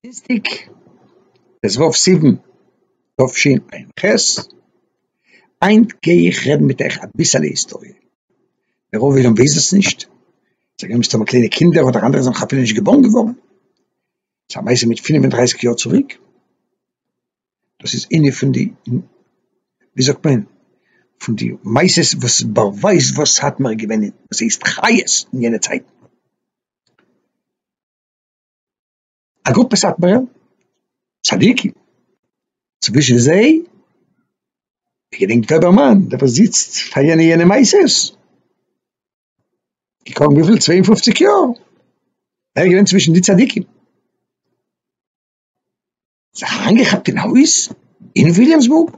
דינסטיג טז ו סיוון תשפ ח, היינט גיי איך רעדן מיט אייך אביסעלע היסטאריע, דער רוב עולם ווייסט דאס נישט, זיי גלייבן מסתמא קליינע קינדער אדער אנדערע זענען נאך אפילו נישט געבארן געווארן, ס'איז א מעשה מיט פינף און דרייסיג יאר צוריק, דאס איז איינע פון די ווי זאגט מען פון די מעשות וואס באווייזט וואס סאטמאר איז געווען וואס הייסט חיות אין יענע צייטן. א גרופע סאטמארע צדיקים, צווישן זיי די געדענקט וועבערמאן דער וואס זיצט פאר יענע יענע מעשות, געקומען וויפיל צוויי און פופציג יאר, ער איז געווען צווישן די צדיקים. זיך אריינגעכאפט אין א הויז אין וויליאמסבורג,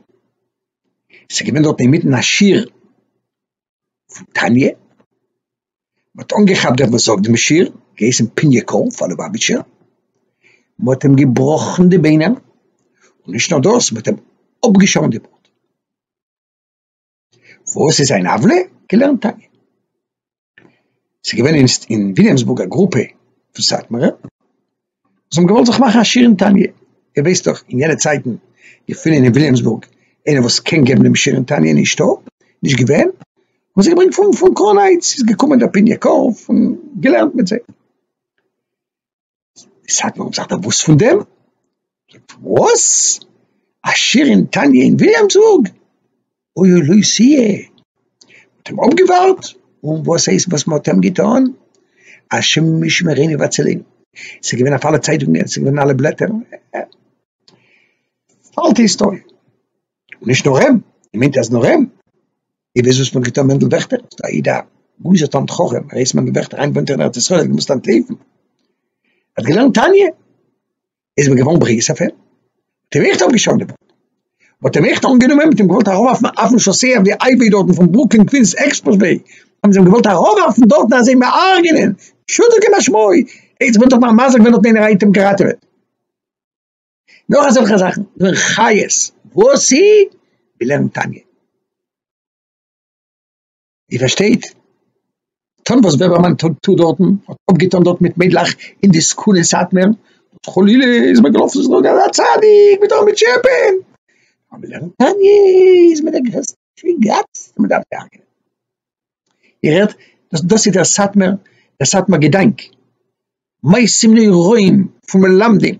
ס'איז געווען דארט אינמיטן א שיעור פון תניא, מ'האט אנגעכאפט דעם וואס זאגט דעם שיעור, געהייסן פינעקאל פאר לובאוויטשער, מ'האט אים געבראכן די ביינער, און נישט נאר דאס, מ'האט אים אפגעשארן די בארד. וואס איז זיין עוולה? געלערנט תניא. ס'איז געווען אינסט אין וויליאמסבורג א גרופע פון סאטמארע וואס האבן געוואלט זיך מאכן עשיר אין תניא. איר ווייסט דאך אין יענע צייטן געפינען אין וויליאמסבורג איינער וואס קען געבן דעם שיעור אין תניא נישטא, נישט געווען, האבן זיי געברענגט פון קראונהייטס, איז געקומען דער פיניע קארף און געלערנט מיט זיי. סאטמאר האט זיך דערוואוסט פון דעם? וואס? א שיעור אין תניא אין וויליאמסבורג? אוי אוי לוי סיע! מ'האט אים אפגעווארט, און וואס הייסט וואס מ'האט אים געטון? השם ישמרינו והצילנו, ס'איז געווען אויף אלע צייטונגען, ס'איז געווען אין אלע בלעטער, אלטע היסטאריע, נישט נאר אים, מ'מיינט אז נאר אים. איר וויסט וואס מען האט געטון מענדל וועכטער? זאגט א איד א גוי'שער תלמיד חכם, ר' מענדל וועכטער היינט וואוינט ער אין ארץ ישראל ער האט געמוזט אנטלויפן, ער האט געלערנט תניא, איז מען געווארן ברוגז אויף אים, האט אים עכט אפגעשאקט די בארד, מען האט אים עכט אנגענומען, מען האט אים געוואלט אראפווארפן אויפן שאסיי אויף די הייוועי דארטן פון ברוקלין קווינס עקספרעסוועי, האבן זיי אים געוואלט אראפווארפן דארטן אזוי אים הרג'נען, פשוטו כמשמעו, עטס וועט דאך מאכן מזל ווען האט מער איינער אים געראטעוועט. נאך אזעלכע זאכן ווען חיות וואס אי ווי לערנט תניא איר פארשטייט טון וואס וועבערמאן טוט טוט דארטן האט אפגעטון דארט מיט מיידלעך אין די סקול אין סאטמער חלילה איז מען געלאפן צו זאגן אז א צדיק מיט אן מיט שעפען אבער לערנט תניא איז מען דער גרעסטע שגץ מען דארף דארף איר הערט? דאס דאס איז דער סאטמער, דער סאטמער געדאנק. מעשים נוראים פון מלמדים,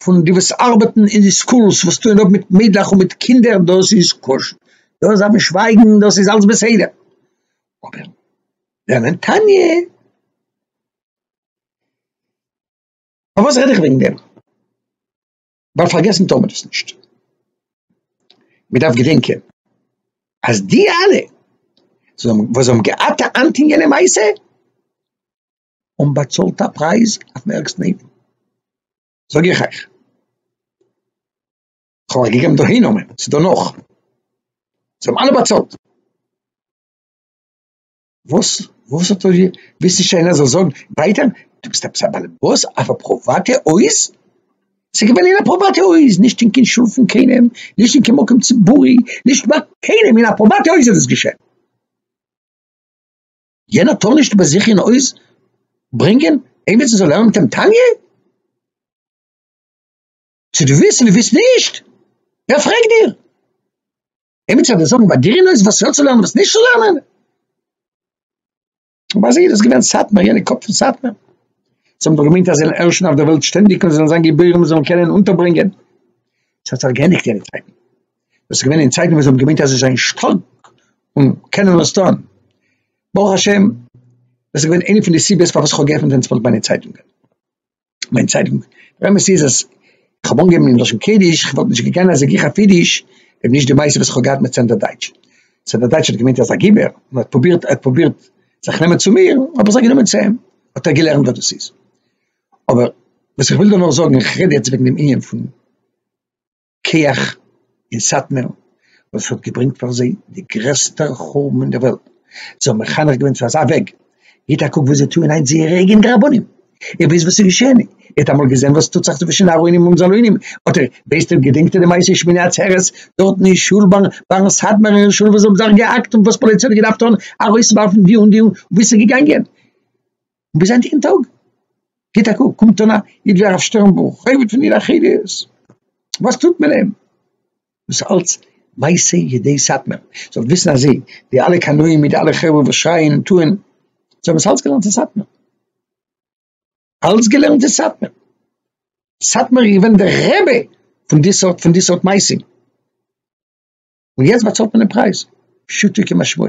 פון די וואס ארבעטן אין די סקולס, וואס טוען אויף מיט מיידלעך און מיט קינדער, דאס איז כשר, דאס דארף מען שווייגן, דאס איז אלס בסדר. אבער לערנען תניא? פארוואס רעד איך וועגן דעם? ווייל פארגעסן טאר מען עס נישט, מען דארף געדענקען אז די אלע וואס האבן געהאט א האנט אין יענע מעשה האבן באצאלט א פרייז אויפן ערגסטן אופן, זאג איך אייך, כ'האב אייך געגעבן דאהי נאמען, ס'איז דא נאך, זיי האבן אלע באצאלט. וואס? וואס האט ער? ווילסט נישט איינער זאל זאגן ווייטער? דו ביסט עפעס א באלעבאס אויף א פריוואטע הויז? ס'איז געווען אין א פריוואטע הויז, נישט אין קיין שול פון קיינעם, נישט אין קיין מקום ציבורי, נישט ביי קיינעם, אין א פריוואטע הויז איז דאס געשען. יענער טאר נישט ביי זיך אין הויז ברענגען איינער צו זאל לערנען מיט אים תניא? צו דו ווילסט צו דו ווילסט נישט, ווער פרעגט דיר? עמיצער וועט זאגן ביי גרינויס וואס יא צו לערנען וואס נישט צו לערנען? ביי זיי איז דאס געווען סאטמאר, יענע קאפ פון סאטמאר. זיי האבן דאך געמיינט אז זיי זענען ערשן אויף דער וועלט שטענדיג און זיי זאלן זיין גיבורים און זאלן קענען אונטערברענגען. עס האט זיך געענדיגט יענע צייטן. דאס איז געווען אין צייטן וואס זיי האבן געמיינט אז זיי זענען שטארק און קענען וואס טון. ברוך השם, דאס איז געווען איינע פון די סיבות פארוואס איך האב געעפנט ווען צוויי ביינע צייטונגען. מיין צייטונג, דער אמת איז אז כ'האב אנגעהויבן אין לשון קודש, כ'וואלט נישט געגאנען אזוי גיך אויף אידיש אויב נישט די מעשה וואס כ'האב געהאט מיט סענדער דייטש. סענדער דייטש האט געמיינט אז א גיבור, און האט פרובירט האט פרובירט זיך נעמען צו מיר, האב איך זיך גענומען צו אים, האט ער געלערנט וואס דאס איז. אבער וואס איך וויל דא נאר זאגן, איך רעד יעצט וועגן דעם ענין פון. כח אין סאטמער וואס האט געברענגט פאר זיי די גרעסטע חורבן אין דער וועלט, זיי האבן מחנך געווען צו אזא וועג, גיט א קוק וואס זיי טוען היינט זייערע אייגענע רבנים, ער וויסט וואס איז געשען, ער האט אמאל געזען וואס טוט זיך צווישן ארוינים און זאלוינים, האט ער, ווייסט אויב געדענקט איר די מעשה שמיני עצרת דארטן אין שול ביין סאטמאר אין שול וואס זיי האבן זיך געהאקט און וואס פאליציי האט געדארפט טון ארויסווארפן די און די און וואו ס'איז געגאנגען, און ביז היינטיגן טאג גיט א קוק קומט אן א איד ווי הרב שטערנבוך חובד פון עיר החיות וואס טוט מען אים דאס אלץ מעשי ידי סאטמער זאלט וויסן אז זיי די אלע קנאים מיט די אלע חברה וואס שרייען און טוען זיי האבן עס אלץ געלערנט אין סאטמער אלץ געלערנט אין סאטמער סאטמער איז געווען דער רבי פון די סארט פון די סארט מעשים. און יעצט באצאלט מען דעם פרייז, פשוטו כמשמעו.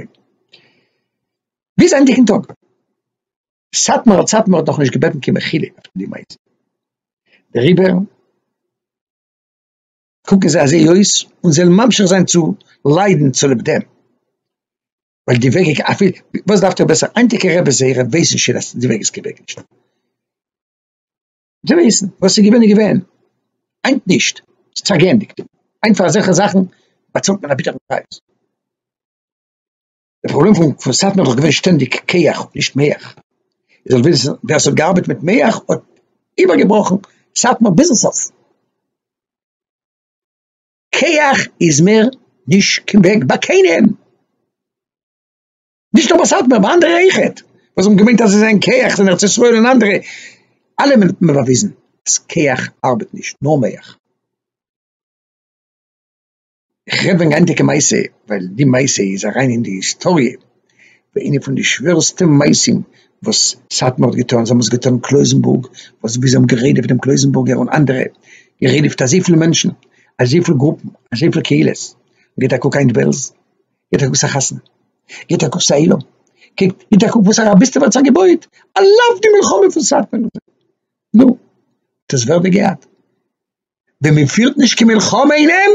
ביז ענדיגן טאג. סאטמאר אלס סאטמאר האט נאכנישט געבעטן קיין מחילה אויף די מעשה. דעריבער קוקן זיי אזוי אויס און זיי וועלן ממשיך זיין צו ליידן צוליב דעם. ווייל די וועג איז אפי' וואס דארפט איר בעסער היינטיגע רעבעס זייערע ווייסן שוין אז די וועג איז כוועגנישט. געוועזן, וואס איז געווען איז געווען, היינט נישט, ס'האט זיך געענדיגט, היינט פאר אזעלכע זאכן באצאלט מען א ביטערן פרייז. די פראבלעם פון פון סאטמאר איז דאך געווען שטענדיג כח נישט מח, איר זאלט וויסן ווער ס'האט געארבעט מיט מח האט איבערגעבראכן סאטמאר ביזן סוף, כח איז מער נישט קיין וועג ביי קיינעם. נישט נאר ביי סאטמאר, ביי אנדערע אויכעט, וואס האבן געמיינט אז זיי זענען כח, זענען ארץ ישראל און אנדערע, אלע האבן מיר באוויזן אז כח ארבעט נישט, נאר מח. איך רעד וועגן א היינטיגע מעשה, ווייל די מעשה איז אריין אין די היסטאריע, ווי איינע פון די שווערסטע מעשים וואס סאטמאר האט געטון, זיי האבן עס געטון אין קלויזענבורג, וואס ווי זיי האבן גערודפ'ט דעם קלויזענבורגער און אנדערע, גערודפ'ט אזויפיל מענטשן, אזויפיל גרופן, אזויפיל קהילות, גיט א קוק היינט בעלז, גיט א קוק וואס א חתונה, גיט א קוק וואס א עולם, קוקט, גיט א קוק וואס א רביסטעווע האט זיך געבויעט, על אף די מלחמה פון סאטמאר, נו, האט עס ווער דען געהאט? ווען מען פירט נישט קיין מלחמה אין אים,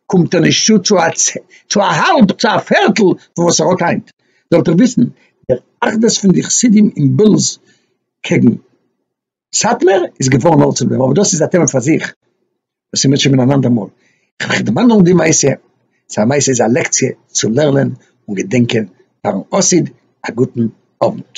קומט ער נישט צו צו א צ... צו א האלב, צו א פערטל פון וואס ער האט היינט, זאלט איר וויסן, דער אחדות פון די חסידים אין בעלז קעגן. סאטמער איז געווארן נאר צו דעם, אבער דאס איז א טעמע פאר זיך, דאס איז מיר שוין אן אנדער מאל, כ'האב געמיינט נאר די מעשה, סא מעשה איז א לעקציע צו לערנען און געדענקען פארן חסיד, א גוטן אוונט.